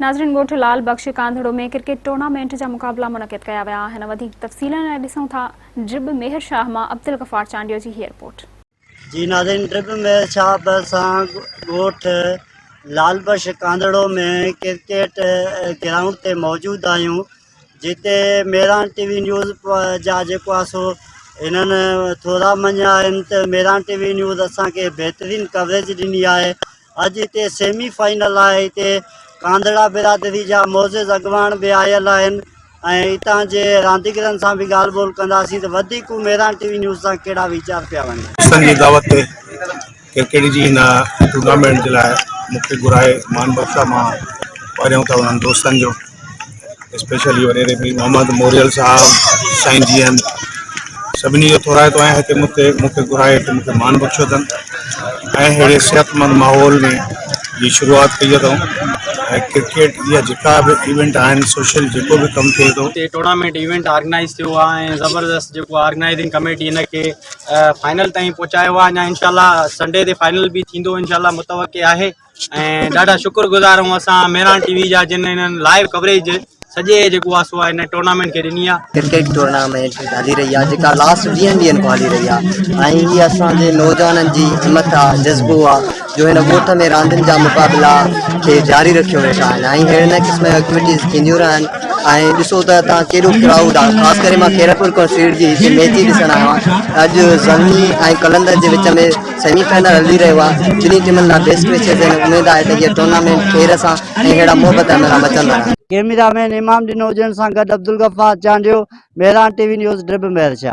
ناظرين ڳوٺ Lal Bakhsh Kandhro ۾ cricket tournament جا مقابلا منعقد ڪيا ويا آهن وڌيڪ تفصيلن لاء ڏسون ٿا ڊرب ميهر شاهه مان عبدالغفار چانڊيو جي هي رپورٽ. جي ناظرين ڊرب ميهر شاهه به سان ڳوٺ لعل بخش ڪانڌڙو ۾ ڪرڪيٽ گرائونڊ تي موجود آهيون جتي ميران ٽي وي نيوز جا جيڪو آهي سو هنن ٿورا مڃيا آهن ته ميران ٽي وي نيوز اسان کي بهترين ڪوريج ڏني آهي اڄ هتي سيمي فائنل آهي هتي ڪانڌڙا برادري جا معزز اڳواڻ به آيل آهن ۽ هتان جي رانديگرن سان به ڳالهه ٻولهه ڪنداسين ته وڌيڪ هو ميران ٽي وي نيوز سان ڪهڙا ويچار پيا وڻين. دوستن جي دعوت تي ڪرڪيٽ جي هن ٽورنامينٽ جي لاء مون کي گهرائي مان بخشا مان پهريون ته انهن دوستن جو اسپيشلي وڏيري پير محمد موريل صاحب سائين جيئن سڀني جو ٿورائتو آهيان هتي مون تي مون کي گهرائي هتي مون کي مان بخشيو اٿن ۽ اهڙي صحتمند ماحول ۾ جي شروعات ڪئي اٿئون ۽ ڪرڪيٽ جا جيڪا به ايونٽ آهن سوشل جيڪو به ڪم ٿئي ٿو هتي ٽورنامينٽ ايونٽ آرگنائز ٿيو آهي ۽ زبردست جيڪو آرگنائزنگ ڪميٽي ان کي فائنل تائين پهچايو آهي اڃا انشاء الله سنڊي تي فائنل به ٿيندو انشاء الله متوقع آهي ۽ ڏاڍا شڪر گذار آهيون اسان ميران ٽي وي جا جن هنن لائيو ڪوريج سڄي جيڪو آهي سو هن ٽورنامينٽ کي ڏني آهي ڪرڪيٽ ٽورنامينٽ هلي رهي آهي جيڪا لاسٽ ويهن ڏينهن کان هلي رهي آهي ۽ هي اسان جي نوجوانن جي همٿ آهي جذبو آهي جو هن ڳوٺ ۾ راندين جا مقابلا کي جاري رکيو ويٺا آهن ۽ هن قسم جون ايڪٽيوٽيز ٿينديون رهن ۽ ڏسو ته هتان ڪهڙو ڪرائوڊ آهي خاص ڪري مان خيرپور کان سيڙ جي هتي ميچ ڏسڻ آيو آهيان اڄ زلمي ۽ قلندر جي وچ ۾ سيمي فائنل هلي رهيو آهي، ٻنهي ٽيمن لاء بيسٽ وشيز آهن، اميد آهي ته هيء ٽورنامينٽ خير سان ۽ اهڙا محبت عمل سان مچندڙ آهن. ڪيميرا مين امام ڏنو جن سان گڏ Abdul Ghaffar Chandio, Mehran T V news, ڊربمهرشاهه.